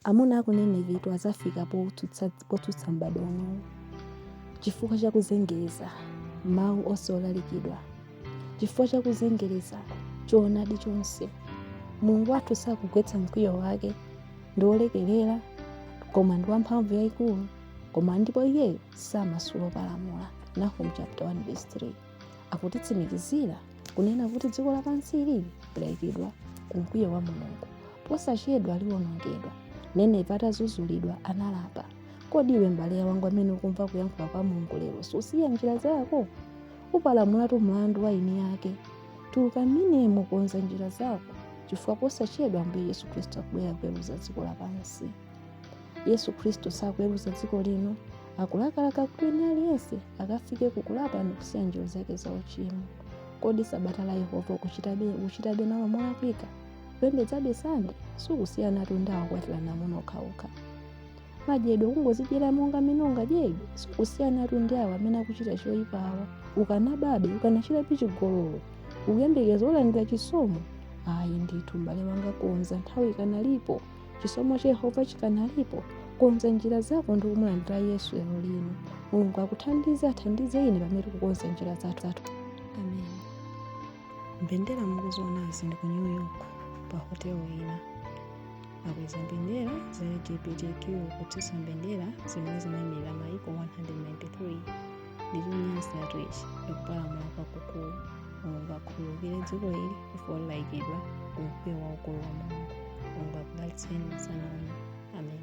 Amuna a ku Ninevitu adzafika potsutsa m'bado uno chifukwa cha kuzengereza mawu onse olalikidwa, chifukwa cha kuzengereza choonadi chonse. Mulungu wathu sakugwetsa mkwiyo wake, ndi wolekerera koma ndi wamphamvu yayikulu, koma ndipo iyeyo samasula opalamula. Nahumu chapter 1 verse 3. akutitsimikizira kunena kuti dziko lapansi ili laikidwa ku mkwiyo wa mulungu posachedwa liwonongedwa ninevi atadzudzulidwa analapa kodi iwe mbale wangu amene ukumva kuyankhula kwa mulungu lero susiya njira zako upalamulatu mlandu wa eni yake tuluka mmenemo konza njira zako chifukwa posachedwa ambuye yesu khristu akubwera kuweruza dziko lapansi yesu khristu sakuweruza dziko lino akulakalaka kuti wina aliyense akafike kukulapa ndi kusiya njira zake za uchimo kodi sabata la yehova ukuchitabe nawo molakwika kupembedzabe sande sikusiyanatu ndi akukwatirana amuna okhaokha madyedwe kungozidyera monga mmene ungadyere sikusiyanatu ndi awo amene akuchita choyipawa ukanababe ukanachitabe chigololo ukuyembekeza ulandira chisomo ayi ndithu m'bale wanga konza nthawi ikanalipo chisomo cha yehova chikanalipo konza njira zako ndi kumulandira yesu lero lino mulungu akuthandize athandize ine pamene tikukonza njira zathu zathu amen mbendera mukuzionazi ndi ku new york pa hotelo ina akweza mbendera za lgbtq kutsitsa mbendera zimene zimayimirira mayiko 193 ndi chonyansatu ichi ndikupalamula kwakukulu mulungu akhululukire dziko ili chifukwa laikidwa ku mkwiyo waukulu wa mulungu mulungu akudalitseni masana ano amen